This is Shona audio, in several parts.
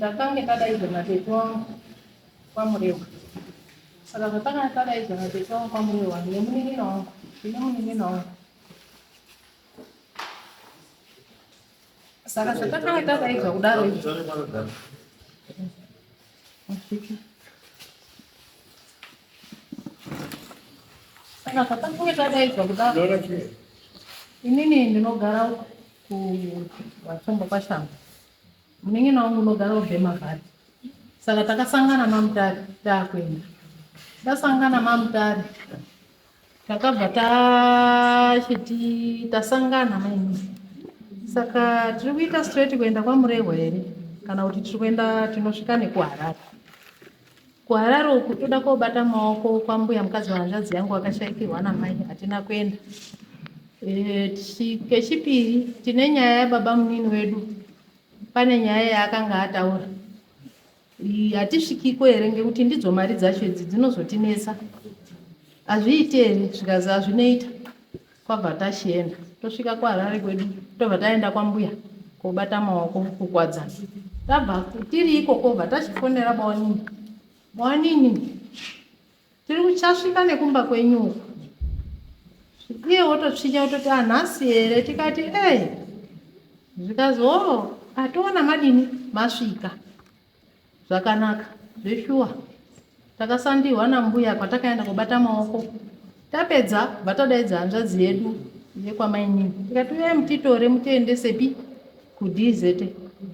Takange tadaidzwa natete wangu kwaMurewa. Saka zvatakange tadaidzwa natete wangu kwaMurewa nemunin'ina wangu, ndine munin'ina wangu. Saka zvatakange tadaidzwa kudaro izvi. Saka patange tadaidzwa kudaro inini ndinogara kuvatsombo kwashamba munin'ina wangu unogara ubhemavhati saka takasangana mamutari takuenda tasangana mamutari takabva tachiti tasangana maini saka tiri kuita straight kuenda kwamurehwa here kana kuti tiri kuenda tinosvika nekuharare kuharare uku toda kobata maoko kwambuya mukadzi wahanzvadzi yangu wakashaikirwa namai hatina kuenda eh, kechipiri tine nyaya yababa munini wedu pane nyaya yaakanga ataura Hatisvikiko here ngekuti ndidzo mari dzacho idzi dzinozotinetsa. Hazviiti here zvikazi hazvinoita kwabva tachienda tosvika kuHarare kwedu tobva taenda kwambuya kobata maoko kukwadzana. Tabva tiri ikoko bva tachifonera bawanini. Bawanini Tiri kuchasvika nekumba kwenyu uko. Iye wototsvinya wototi ah nhasi here tikati eh zvikanzi oh atoona madini masvika zvakanaka zveshuwa takasandihwa nambuya kwatakaenda kubata maoko tapedza bva tadaidza hanzvadzi yedu yekwamainini tikati uyai mutitore mutiendesepi kudz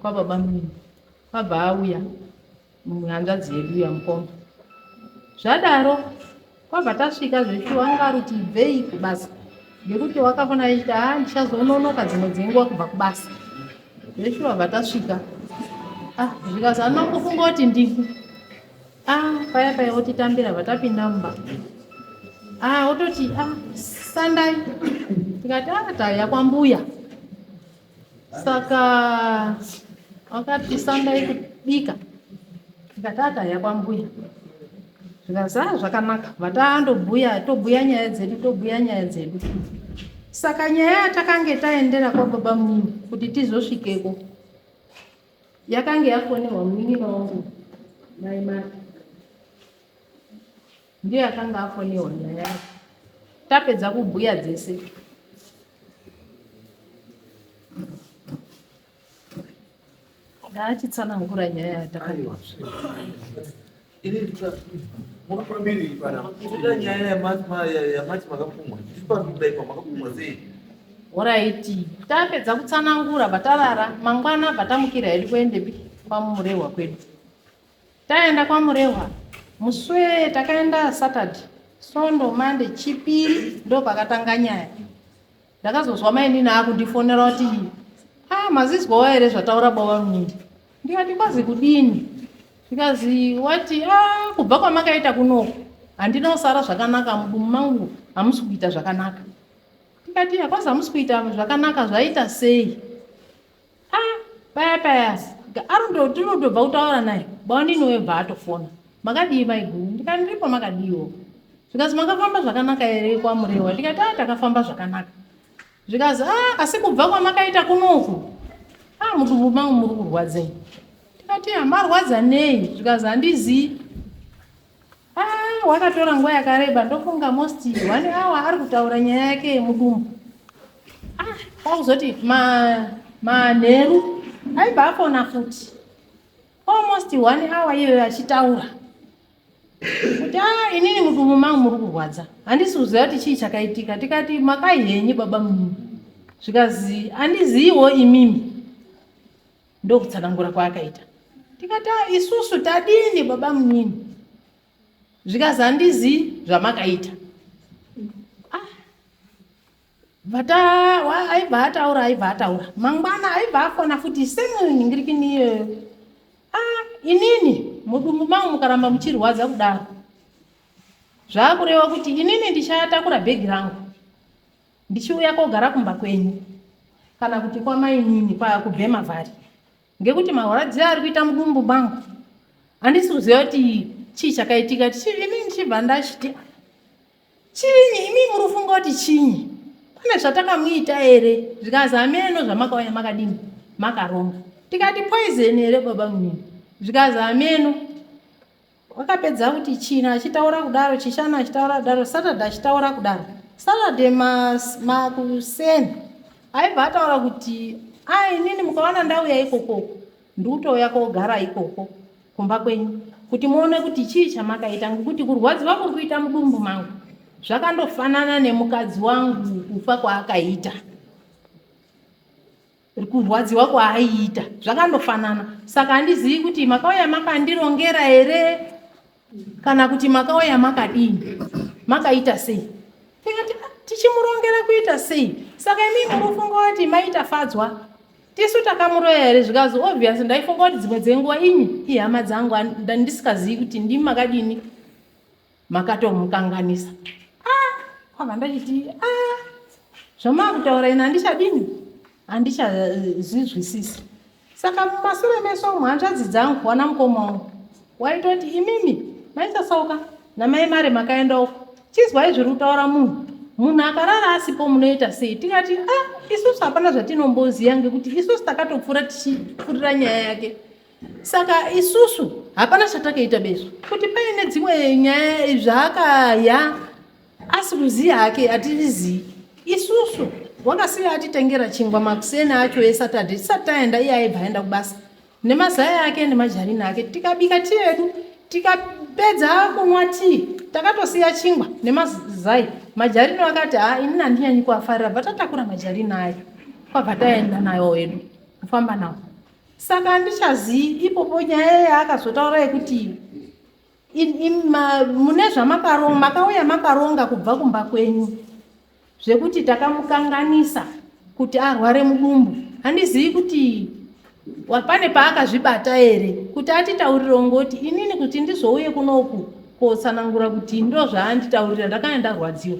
kwababa mnini Kwabva auya mumwe hanzvadzi yedu yamukoma zvadaro kwabva tasvika zveshuwa wanga ari kuti ibvei kubasa ngekuti wakafana achiti ha ah, ndichazononoka dzimwe dzenguva kubva kubasa zveshuwa bva tasvika ah zvikazi anongofunga kuti ndiku ah paya paya otitambira bva tapinda mumba ah ototi ah sandai tikati ah tauya kwambuya saka wakati sandai kubika ndikati akaya kwambuya zvikazaa ah, zvakanaka vataandobhuya tobhuya nyaya dzedu tobhuya nyaya dzedu saka nyaya yatakange taendera kwababa munini kuti tizosvikeko yakange yafonerwa munin'ina wangu mai mati Ndiye akanga afonewa naYara. Tapedza kubhuya dzese. Ndaachitsanangura nyaya yatakanwa. Ini muri pamberi pana. Kuda nyaya yamati makapumwa. Ndiri pamberi dai pamakapumwa sei? Horaiti. Tapedza kutsanangura batarara. Mangwana batamukira hedu kuendepi kwamurehwa kwedu. Taenda kwaMurehwa muswee takaenda Saturday, Sondo, Monday, Chipiri ndopakatanga nyaya. Ndakazozwa mainini akundifonera kuti ah mazizwawo here zvataura baba munini. Ndikati kwazi kudini? Zvikazi wati ah kubva kwamakaita kunoku handina kusara zvakanaka mudumu mangu hamusi kuita zvakanaka. Ndikati kwazi hamusi kuita zvakanaka zvaita sei? ah paya paya arundo tinotobva kutaura naye bawanini webva atofona makadii maiguru ndikati ndiripo makadiiwo zvikanzi makafamba zvakanaka here kwamurewa ndikati a ah, takafamba zvakanaka zvikanzi a ah, asi kubva kwamakaita kunoku a ah, mudumbu mangu muri kurwadzei ndikati hamarwadza nei zvikanzi handizii Ah, wakatora nguva yakareba ndofunga most one hour ari kutaura nyaya yake yemudumbu. Ah, kwakuzoti manheru ma aibva afona futi almost one hour iyoyo achitaura kuti a ah, inini mudumbu mangu muri kurwadza handisi kuziva kuti chii chakaitika tikati makai henyu baba mumimi zvikazi handiziviwo imimi ndokutsanangura kwaakaita tikati "Ah, isusu tadini baba munini zvikanzi handizii zvamakaita Ah, vata wa- aibva ataura aibva ataura mangwana aibva afona futi semwini ndiri kini iyoyo Ah, inini mudumbu mangu mukaramba muchirwadza kudaro zvakureva kuti inini ndichatakura bhegi rangu Ndichiuya kogara kumba kwenyu kana kuti kwamainini kubhema vhari ngekuti mahwaradziyo ari kuita mudumbu mangu handisi kuziva kuti chii chakaitika ini ndichibva ndachiti chinyi imi muri kufunga kuti chinyi pane zvatakamuita here zvikazi hameno zvamakauya makadini makaronga tikati poison here baba munini zvikazi hameno Wakapedza kuti China achitaura kudaro, Chishana achitaura kudaro, Saturday achitaura kudaro. Saturday mas, makuseni aibva ataura kuti a inini mukawana ndauya ikoko ndikutouya kogara ikoko kumba kwenyu kuti muone kuti chii chamakaita ngokuti kurwadziwa kuri kuita mudumbu mangu zvakandofanana nemukadzi wangu kufa kwaakaita kurwadziwa kwaaiita zvakandofanana saka handizivi kuti makauya makandirongera here kana kuti makauya makadini makaita sei tikati "Ah, tichimurongera kuita sei saka imi munofunga kuti maita fadzwa tisu takamuroya here zvikazi obvious ndaifunga kuti dzimwe dzenguva imi ihama dzangu and- nda- ndisikazivi kuti ndimi makadini makatomukanganisa ah, kwabva ndachiti ah, zvamaakutaura ina handichadini handichazvizwisisi saka mumasure meso umu hanzvadzi dzangu wana mukoma wangu waitoti imimi maichasauka namai mari makaenda uko chizwai zviri kutaura munhu munhu akarara asipo munoita sei tikati a ah, isusu hapana zvatinomboziva ngekuti isusu takatopfuura tichipfurira nyaya yake saka isusu hapana chatakaita bezvo kuti paine dzimwe nyaya zvaakaya asi kuziya hake atizii isusu wakasiya atitengera chingwa makuseni acho esaturday tisati taenda iye aibva aenda kubasa nemazaya ake nemajarini ake tikabika tii yedu tikapedza kunwa tii takatosiya chingwa nemazai majarini akati ha ini handinyanyi kuafarira bva tatakura majarini ayo kwabva taenda nayo wedu kufamba nawo saka handichazivi ipopo nyaya yaakazotaura yekuti mune zvamakaronga makauya makaronga kubva kumba kwenyu zvekuti takamukanganisa kuti arware mudumbu handizivi kuti pane paakazvibata here kuti atitaurire ngoti inini kuti ndizouye kunoku kotsanangura kuti ndo zvaanditaurira ndakanga ndarwadziwa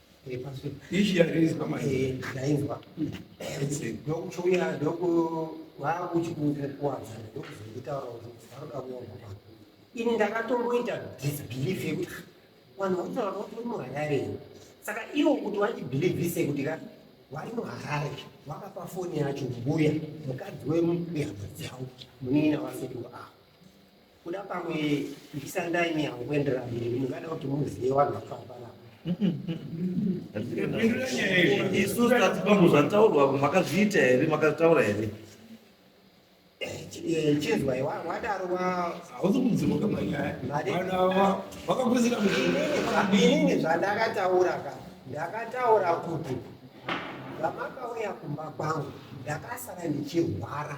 Ishi yarinzwa manje. Yarinzwa. Ndokuchouya ndoku vakuchikukuwadza ndokuzonditaura kuti varoda kuongoa. Ini ndakatomboita disbelief yekuti vanhu vakutaura kuti uri muharare. Saka ivo kuti vandibelievise kuti ka vari muharare vakapa foni yacho mbuya mukadzi wemuyambo dzavo munini navasekuru avo. kuda pamwe ndisandai nyaya kuendera mberi mungada kuti muzive vanhu vakafana isu tati pamwe zvataurwa makazviita here makataura here chizwai wadaro hausi kudzimuka manyaya vanhu ava vakaguzira muinini zvandakataura ka ndakataura kuti vamakauya kumba kwangu ndakasara ndichirwara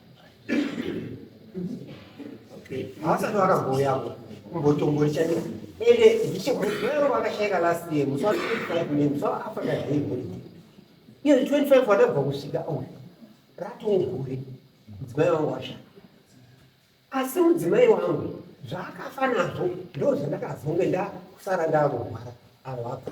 haasati vakagouyapo kumbotombori chaiko ende ndichekuero vakashaika last year musi wa 25 ne musi waafrica day holiday iyo 25 watabva kusvika uyu ratongure mudzimai wangu washaya asi mudzimai wangu zvaakafa nazvo ndo zvandakazonge ndakusara ndakurwara avo vabva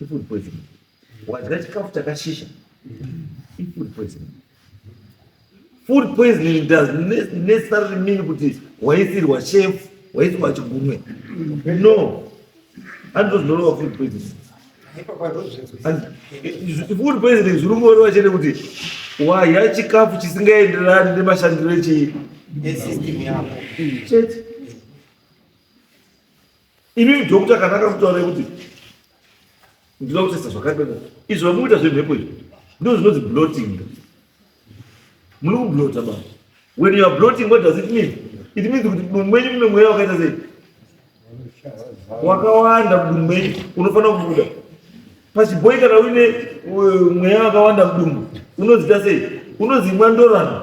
ifood poison wadya chikafu chakashisha ifood poison food poisoning does necessarily mean kuti waisirwa chef waisirwa chigumwe no andozvinoreva food poisoning food poisoning zviri kungoreva chete kuti wadya chikafu chisingaenderani nemashandiro echii chete Imi doctor kana akakutaura kuti ndinoda kutesta zvakati izvo vamukuita zvemhepo izvi ndizvo zvinonzi bloating muri kublota ba when you are bloating what does it mean it means kuti mudunhu menyu mune mweya wakaita sei wakawanda mudunhu menyu unofanira kubuda pachibhoi kana uine uh, mweya wakawanda mudunhu unozita sei unozimwa ndorana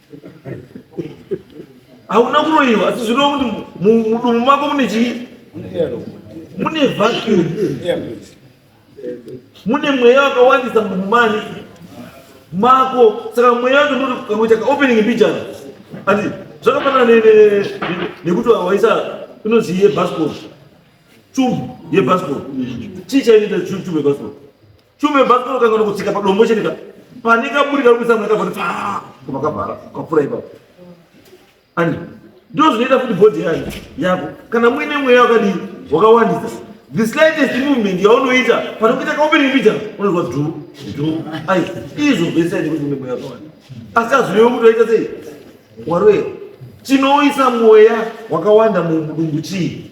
hauna kuroiwa asi zvinoa kuti mudumu mako mune chii mune vacuum mune mweya wakawandisa mudumu mani mako saka mweya wacho ndoti kakuita kaopening mbijana ati zvakafanana nekuti waisa inonzi yebasco chum yebasco chii chainoita chum yebasco Shumba yebhasikoro kangana kutsika padombo chete ka pane kaburi kari kuisa mwana kavhoti paa koma kavhara kapfura ipapo ani ndizvo zvinoita futi bhodhi yayo yako kana muine mweya wakadii wakawandisa the slightest movement yaunoita pane kuita kaopening picture unozwa dhu dhu ai izvo vese aite kuti une mweya wakawanda asi azvirewo kuti waita sei waroya chinoisa mweya wakawanda mudumbu chii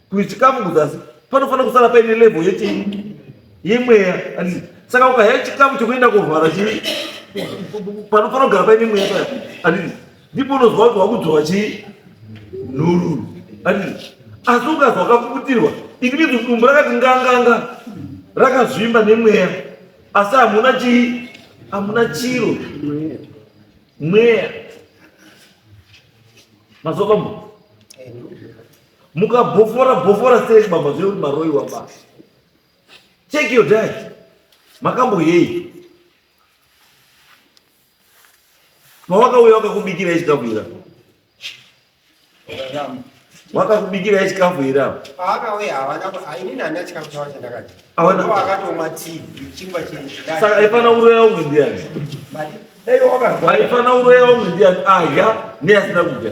kuti chikafu kuzasi panofanira kusara paine level yechii yemweya anditi saka ukahaya chikafu chekuenda kovhara chii panofanira kugara paine mweya paya anditi ndipo unozwa kuti wakudzwa chii nhururu anditi asi ukazwa kakuputirwa it means kuti dumbu rakati nganganga rakazvimba nemweya asi hamuna chii hamuna chiro mweya mazwa pambo mukabhofora bhofora sei mabva zvekuti maroiwa ba check your diet makamboyei pawakauya wakakubikirai chikafu ira wakakubikirai chikafu ira saka aifana uroya umwe ndiani aifana uroya umwe ndiani adya neasina kudya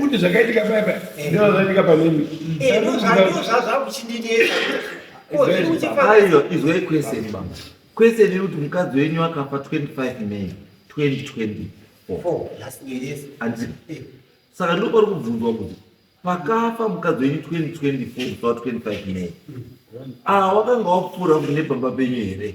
kuti zvakaitika paya paya ndizvo zvaitika panini aiwa izwai kwese baba kwese nekuti mukadzi wenyu akafa 25 may 2024 saka ndiko kwari kubvunzwa kuti pakafa mukadzi wenyu 2024 kufa 25 may awa wakanga wapfuura kune baba penyu here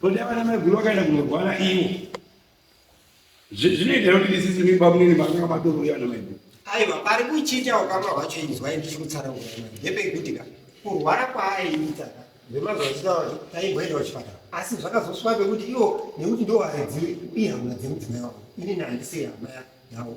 Kodi avana maiguru vakaenda kunorwara ivo zvinoita kuti ndisisi mimba munini vakanga vatorori vana maiguru aiva pari kuchinja ukama hwacho inzwa ini tichikutsara ndepekuti ka kurwara kwaaiita vemazuva chitauri taimboendawo chipatara asi zvakazoswa pekuti ivo nekuti ndovaredziwe iye hama dzemudzimai wavo inini handisiri hama yavo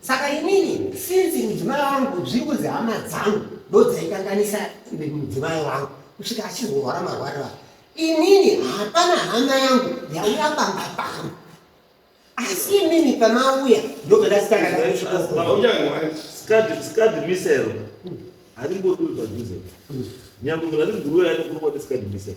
Saka inini since mudzimai wangu zviri kunzi hama dzangu ndodzaikanganisa mudzimai wangu kusvika achizorwara marwarira inini hapana hama yangu yauya pamba pangu asi inini pamauya ndobva ndasikaadmisero haringodiwi padhuze nyangwe munhu ari mguru uyo anokurwa ndisikadmisero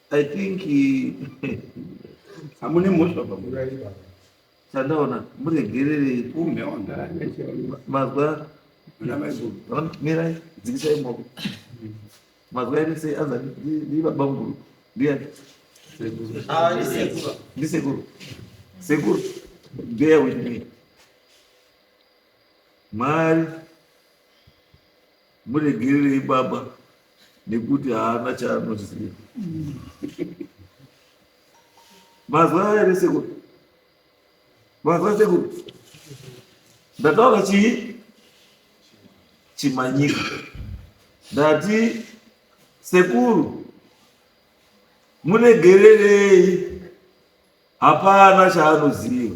I think hamune mhosva pamurai baba. Chandaona muregererei Kumbe wagara nechiona. mazwa Kuna mai Bhuru. Ona, mirai dzikisai maoko mazwa ere sei anza ndibaba mukuru ndiyani Ah, ni sekuru. ndisekuru sekuru bear with me mwari Muregererei baba nekuti haana chaanoziva. Mazwa here sekuru? Mazwa sekuru? Ndataura chii? Chimanyika. Ndati sekuru muregererei hapana chaanoziva.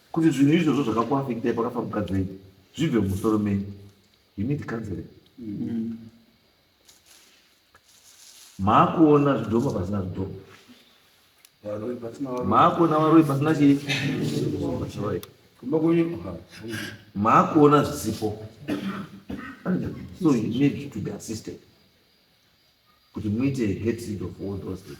Kuti zvinhu izvozvo zvakakuafektai pakafa mukadzi wenyu zvibve mumusoro menyu you need counseling mm. maakuona zvidhoma pasina zvidhoma maakuona varoi pasina chii maakuona zvisipo so you need to be assisted kuti muite get rid of all those things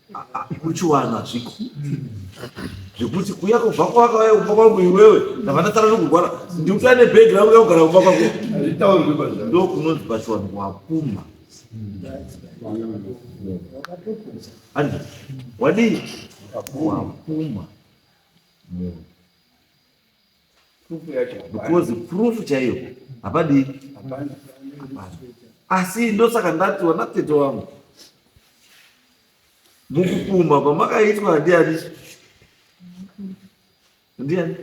kuchiwana hazviko zvekuti kuya kubva kwakauya kumba kwangu iwewe ndava ndatara nokugwara ndikuta nebhegi rangu yakugara kumba kwako ndokunonzi pachiwanhu wakuma ani wadii wakuma munhu because proof chaiyo hapadii asi ndosaka ndati wana tete wangu mukupumha kwamakaitwa handiani ndiani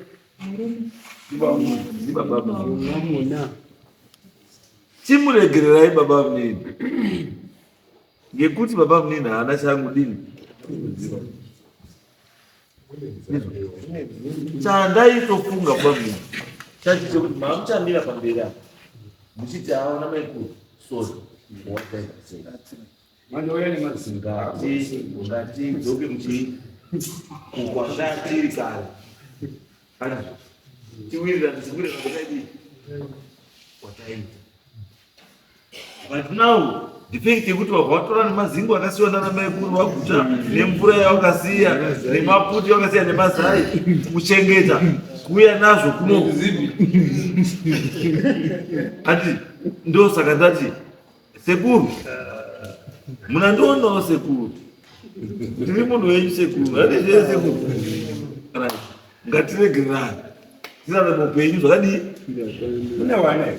chimuregererai baba mnini ngekuti babamunini haana chaangudini kuziva chandaitofunga bamunini chachi chekuti maamuchamira pamberi apa muchiti aona maikuru sori ngatidzoke muchii kukwangatiri kare tiwirira tiziwirira kwataidii kwataita But now the fact yekuti wabva watora nemazingo akasiwa nana maikuru waguta nemvura yawakasiya nemaputi yawakasiya nemazai kuchengeta kuuya nazvo kuno ati ndo saka ndati sekuru munandionawo sekuru ndiri munhu wenyu sekuru andizvee sekuru Right. ngatiregererane tirarame upenyu zvakadii Mune wana here?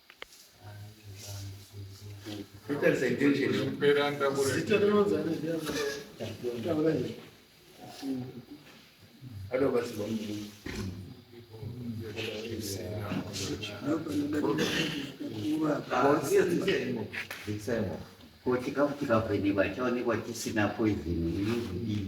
Ko chikafu chikavhenekwa chaonekwa chisina poison inozodii?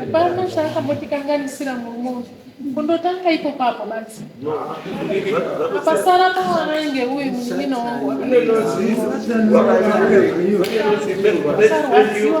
Hapana chaakambotikanganisira murume uyu kundotanga iko papo basi apasara pawana inge uyu munin'ina wangu wasarwadziwa